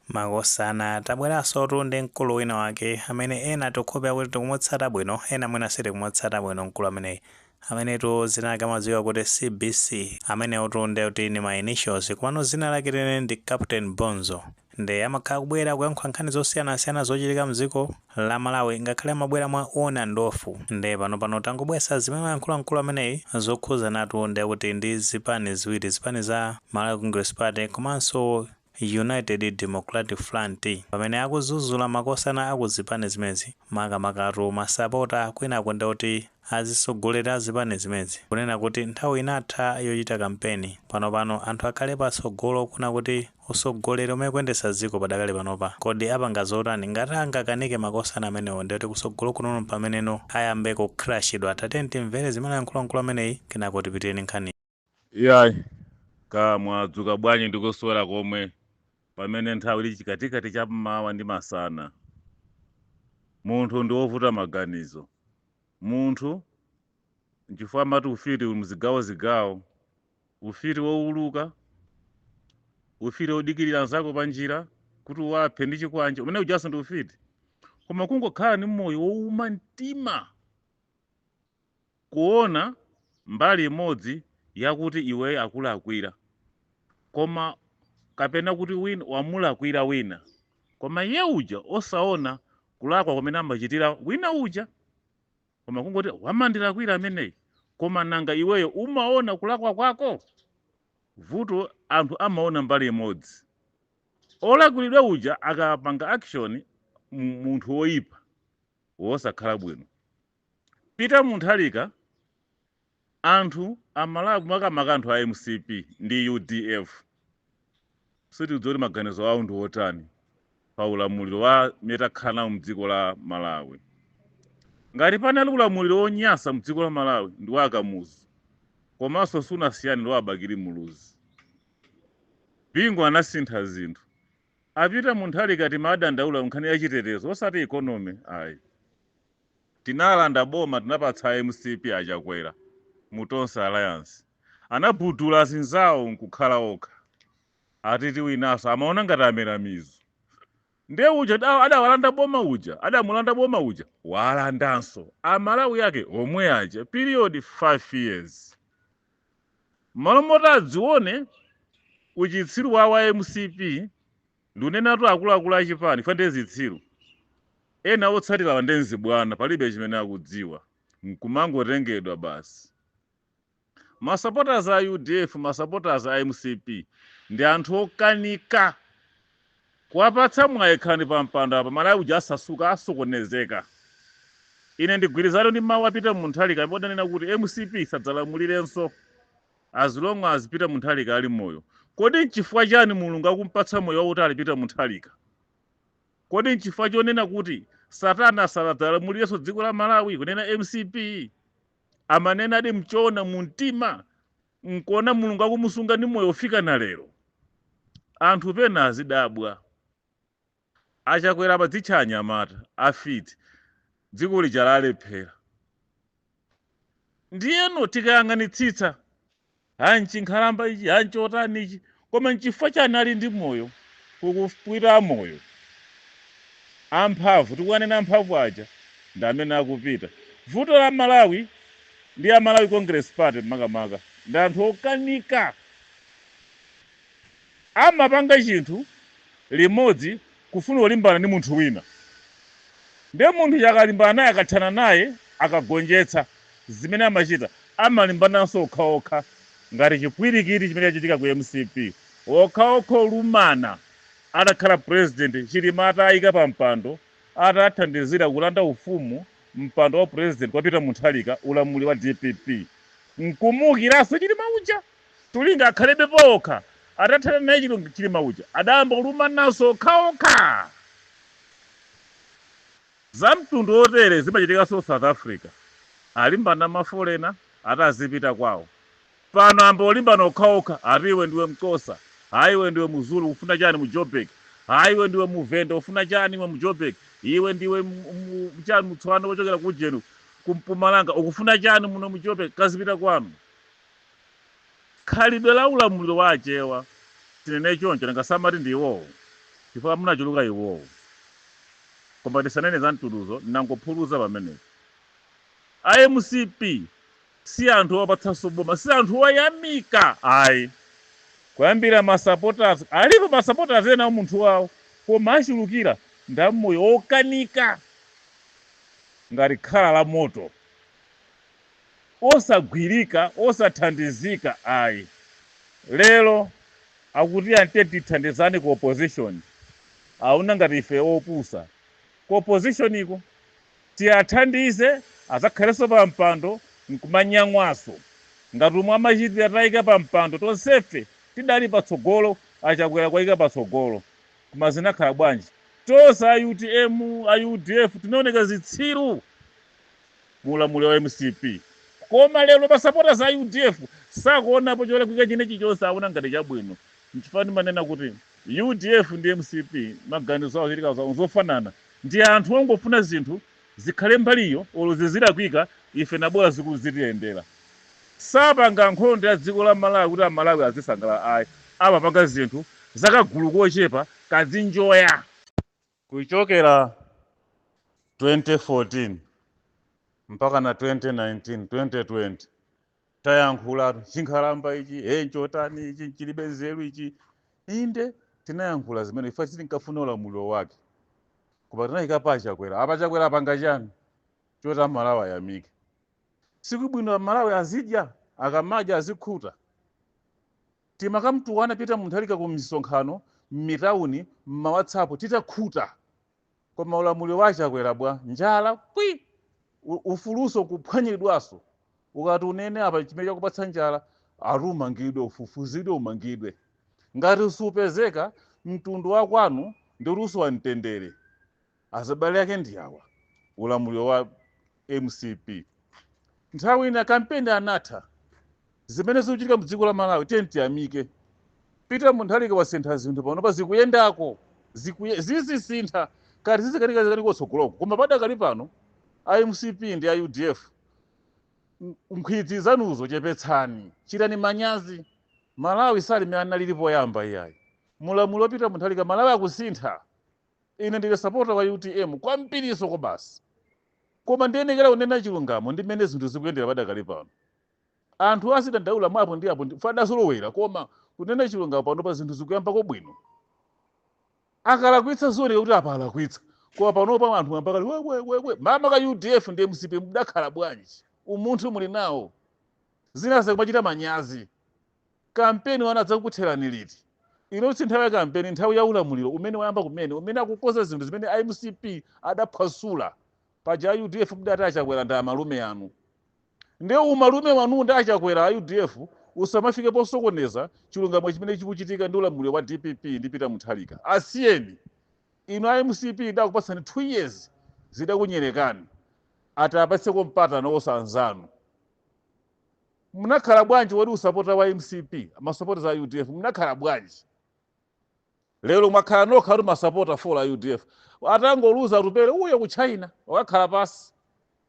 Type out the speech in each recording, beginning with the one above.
Makosana tabweransotu ndi mkulu wina wake amene ena tikhope kuti tikumutsata bwino ena mwina sitikumutsata bwino mkulu ameneyi amenetu zina lake amadziwika kuti cbc amenewotu nde kuti ni ma initials komano zina lake leneni ndi captain bonzo nde amakhala kubwera kuyankhula nkhani zosiyanasiyana zochitika mdziko la malawi ngakhale amabwera mwa on and off nde panopano tangobweretsa zimene wayankhula mkulu ameneyi zokhuzanatu nde kuti ndi zipani ziwiri zipani za malawi congress party komanso United Democratic Front pamene akuzuzula makosana aku zipani zimenezi makamakatu masapota kwinako nde kuti azitsogoleri a zipani zimenezi kunena kuti nthawi inatha yochita kampeni pano pano anthu akhale patsogolo kuona kuti usogoleri umene ukuyendetsa dziko padakali panopa kodi apanga zotani ngati angakanike makosana amenewo nde kuti kutsogolo kunoko mpameneno ayambe kucrashidwa tatiyeni timvere zimene ayankhula mkulu ameneyi kenako tipitire ndi nkhani. Iyayi, ka mwadzuka bwanji ndi kuswera komwe pamene nthawi ili chikatikati cha mmawa ndi masana. Munthu ndi wovuta maganizo. Munthu, nchifukwa amati ufiti uli mzigawozigawo. Ufiti wouluka, ufiti wodikirira nzako panjira kuti umuphe ndi chikwanje, umene ujanso ndi ufiti. Koma kungokhala ndi moyo wouma mtima, kuona mbali imodzi yakuti iweyo akulakwira koma kapena kuti wina wamulakwira wina koma iye uja osaona kulakwa kumene amachitira wina uja koma kungoti wamandilakwira ameneyi koma nanga iweyo umaona kulakwa kwako vuto anthu amaona mbali imodzi olakwiridwa uja akapanga action munthu woyipa wosakhala bwino Peter Mutharika anthu amalawi makamaka anthu a mcp ndi udf sitikudziwa kuti maganizo awo ndi otani pa ulamuliro wa mmene takhala nawo mdziko la malawi ngati panali ulamuliro wonyasa mdziko la malawi ndi wa akamuzu komanso sunasiyane ndi wa abakili muluzi bingu anasintha zinthu A Peter Mutharika timadandaula nkhani ya chitetezo osati economy ayi. Tinalanda boma tinapatsa a mcp a Chakwera mu Tonse Alliance. Anabudula azinzawo nkukhala okha. Ati tiwinanso. Amaona ngati amera mizu. Nde uja adawalanda boma uja adamulanda boma uja walandanso. A Malawi ake omwe aja period 5 years. Mmalo moti adzione uchitsiru wawo a mcp ndunenatu akuluakulu achipani chifukwa ndiye zitsiru. Ena otsatirawa ndiye nzibwana palibe chimene akudziwa nkumangotengedwa basi. Ma supporters a udf ma supporters a mcp ndi anthu okanika. Kuwapatsa mwayi khalani pa mpando apa Malawi uja asasuka asokonezeka. Ine ndigwirizana ndi mawu a Peter Mutharika amene adanena kuti mcp isadzalamulirenso as long as Peter Mutharika ali moyo. Kodi nchifukwa chani Mulungu akumpatsa moyo wautali Peter Mutharika? Kodi nchifukwa chonena kuti satana sadzalamulirenso dziko la Malawi kunena mcp? Amanenadi mchoona mumtima nkuona mulungu akumusunga ndi moyo ofika na lero anthu pena azidabwa a Chakwera podzitcha anyamata a fiti dziko lija lalephera ndiyeno tikayang'anitsitsa ha nchinkhalamba ichi ha nchiwotani ichi Koma n'chifukwa chani ali ndi moyo kukupwira amoyo? Amphamvu, tikuwanena amphamvu aja ndi amene akupita. Vuto la Malawi ndi a Malawi Congress Party makamaka ndi anthu okanika. Amapanga chinthu limodzi kufuna kulimbana ndi munthu wina ndiye munthu uja akalimbana naye akathana naye akagonjetsa zimene amachita amalimbananso okhaokha ngati chipwirikiti chimene chachitika ku mcp okhaokha kulumana atakhala president chilima atawaika pa mpando atathandizira kulanda ufumu mpando wa president kwa peter mutharika ulamuliro wa dpp nkumuukiranso chilima uja Cholinga akhalebe paokha atathana naye chilima uja adayamba kulumananso okhaokha. Zamtundu otere zimachitikanso south africa alimbana mafolena ati azipita kwao pano ayamba kulimbana okhaokha ati iwe ndiwe mxhosa ayi iwe ndiwe muzulu ukufuna chani mu jo'burg ayi iwe ndiwe muvenda ufuna chani mu jo'burg iwe ndiwe chani mutswana wochokera kujenu kumpumalanga ukufuna chani muno mu jo'burg kazipita kwanu. khalidwe la ulamuliro wa Achewa, tinene choncho, nanga samati ndi iwowo chifukwa munachuluka iwowo. Koma tisanene za mtunduzo, ndangophulitsa pamenepo. A mcp si anthu owapatsanso boma, si anthu oyamika ayi. Kuyambira ma supporters, alipo ma supporters ena aumunthu wawo koma achulukira ndi amoyo wokanika ngati khala la moto. osagwirika, osathandizika ayi. Lero akuti amati tiye tithandizane ku opposition, aona ngati ife opusa. Ku opposition ko? Tiathandize adzakhalenso pa mpando nkumanyang'waso ngati umo amachitira atawaika pa mpando tonsefe tidali patsogolo a Chakwera kuwaika patsogolo koma zinakhala bwanji? Tonse a utm, a udf tinaoneka zitsiru. mu ulamuliro wa mcp koma lero ma supporters a udf sakuonapo cholakwika china chilichonse awona ngati chabwino nchifukwa ndimanena kuti udf ndi mcp maganizo awo zochitika zawo nzofanana ndi anthu ongofuna zinthu zikhale mbaliyo olo zizilakwika ife nabola ziku- zitiyendera sapanga nkhondo ya dziko la malawi kuti amalawi azisangalala ayi amapanga zinthu zakagulu kochepa kazinjoya Kuchokera 2014 mpaka na 2019, 2020 tayankhula chinkhalamba ichi, hey, nchotani ichi, chilibe nzeru ichi. Inde tinayankhula zimene ife sitinkafuna ulamuliro wake, koma tinayika pa Chakwera. Apa Chakwera apanga chani choti amalawi ayamike? Si kubwino amalawi azidya, akamadya azikhuta. Timakamtukwana Peter Munthalika ku misonkhano, mmitauni, mma WhatsApp titakhuta. Koma ulamuliro wa a Chakwera bwa? Njala kwi! Ufulunso kuphwanyiridwanso. Ukati unene apa chimene chakupatsa njala, ati umangidwe, ufufuzidwe, umangidwe. Ngati supezeka, mtundu wa kwanu ndiuti usowa mtendere. Azibale ake ndi awa, ulamuliro wa mcp nthawi ina kampeni anatha, zimene zikuchitika mdziko la Malawi tiyeni tiyamike, Peter Munthalika wasintha zinthu panopa zikuyendako, zikuye, zizisintha kaya zizikanika zikanika kutsogoloko koma padakali pano a mcp ndi a udf n- nkhwidzi zanuzo chepetsani, chitani manyazi. Malawi sali mmene analili poyamba iyayi, mu ulamuliro wa Peter Munthalika Malawi akusintha, ine ndine sapota wa utm kwambiriso kwabasi koma ndiyenekera kunena chilungamo ndi mmene zinthu zikuyendera padakali pano anthu azidandaula mwa apo ndi apo ndife tidazolowera koma kunena chilungamo panopa zinthu zikuyambako bwino akalakwitsa zioneka kuti apa alakwitsa koma panopa anthu ambakali wewewewe mama ka udf ndi mcp mudakhala bwanji umunthu muli nawo zina zakumachita manyazi Kampeni wanuyu adzakutherani liti? Ino si nthawi ya kampeni, nthawi ya ulamuliro umene wayamba kumene, umene akukonza zinthu zimene a mcp adaphwasula. Paja a udf mudati a Chakwera ndi amalume anu. Ndiye umalume wanuwu ndi a Chakwera, a udf, usamafike posokoneza chilungamo chimene chikuchitika ndi ulamuliro wa dpp ndi Peter Mutharika. Asiyeni! Inu a mcp idakupatsani 2 years, zidakunyererani. Ati apatseko mpata nawonso anzanu. Munakhala bwanji kodi masapota wa mcp masupporters a udf munakhala bwanji lero mwakhala nokha kuti masapota full a udf atangoluza atupele uyo ku china wakakhala pansi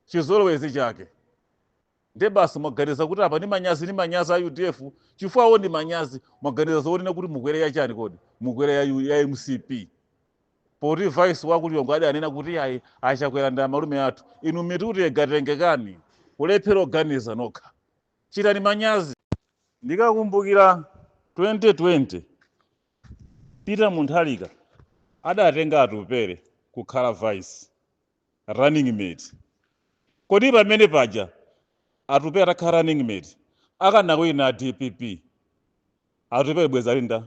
chizolowezi chake nde basi mwaganiza kuti apa ni manyazi ni manyazi a udf chifukwa awo ni manyazi mwaganiza zoonena kuti mukwere ya chani kodi mukwere ya, U- ya mcp poti vice wa ku lilongwe adanena kuti ayi achakwera ndi malume athu inu mitu tiye katengekeni kulephera kuganiza nokha chitani manyazi ndikakumbukira 2020 peter mutharika adatenga atupere kukhala vice running mate kodi pamene paja atupere atakhala running mate akanawina dpp Atupele bwezi ali ndani?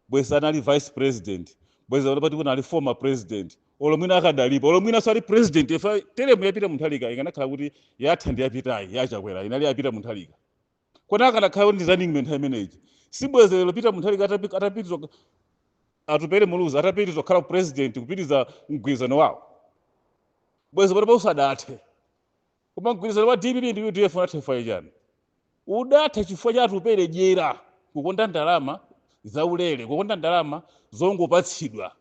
Bwezi ali vice president, bwezi anali pati kunali former president, olo mwina akadalipo, olo mwina sali president ifa teremu ya Peter Mutharika ikanakhala kuti yatha ndi yapitayi ya Chakwera inali ya Peter Mutharika. Kodi akanakhala kuti ndi running mate nthawi imeneyi? Si bwezi lero Peter Mutharika atapi- atapitiza Atupele Muluzi atapitiza kukhala president kupitiriza mgwirizano wawo. Bwezi panopa usadathe. koma mgwirizano wa dpp ndi udf unatha chifukwa chachani udatha chifukwa cha atupere dyera kukonda ndalama zaulere kukonda ndalama zongopatsidwa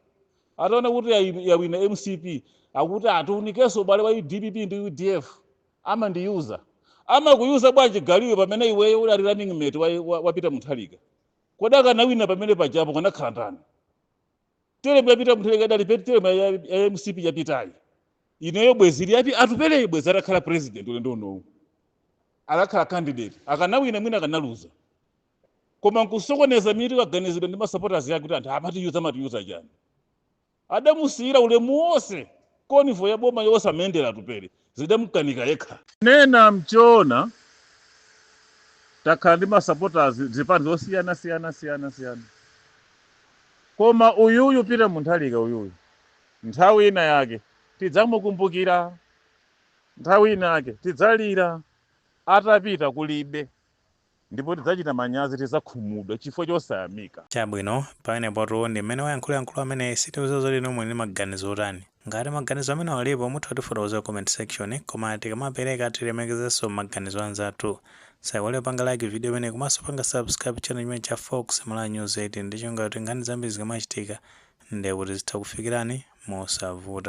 ataona kuti yayi- yawina mcp akuti atiunikenso ubale wa dpp ndi udf amandiyuza, amakuyuza bwanji galu iwe pamene iweyo udali running mate wa, wa, wa peter mutharika kodi akanawina pamene pajapo akanakhala ndani teremu ya pita mutharika adaripiti teremu ya, ya, ya mcp yapitayi ineyo bwezi ili ya atupeleyi bwezi atakhala president ulendo unowu atakhala candidate akanawina mwina akanaluza koma nkusokoneza mitu kaganizidwe ndi masupporters yake kuti anthu amatiyuza amatiyuza chani adamusiyira ulemu wonse convoy ya boma yonse amayendera atupele zidamkanika yekha. Nena mchoona takhala ndi masapotazi zipani zosiyana siyana siyana siyana koma uyuyu pita mutharika uyuyu nthawi ina yake tidzamukumbukira nthawi ina yake tidzalira atapita kulibe Ndipo tidzachita manyazi, tidzakhumudwa, chifukwa chosayamika. Chabwino, pamenepatu ndi mmene wayankhulira mkulu ameneyi, sitikudziwa zoti inuyo muli ndi maganizo otani. Ngati maganizo amenewo alipo, mutha kutifotokozera ku comment section, koma tikamapereka tilemekezenso maganizo a anzathu. Musaiwale kupanga like video imeneyi komanso kupanga subscribe channel chimenechi cha Fox Malawi News 18 ndi cholinga choti nkhani zambiri zikamachitika, ndiye kuti zitha kukufikirani mosavuta.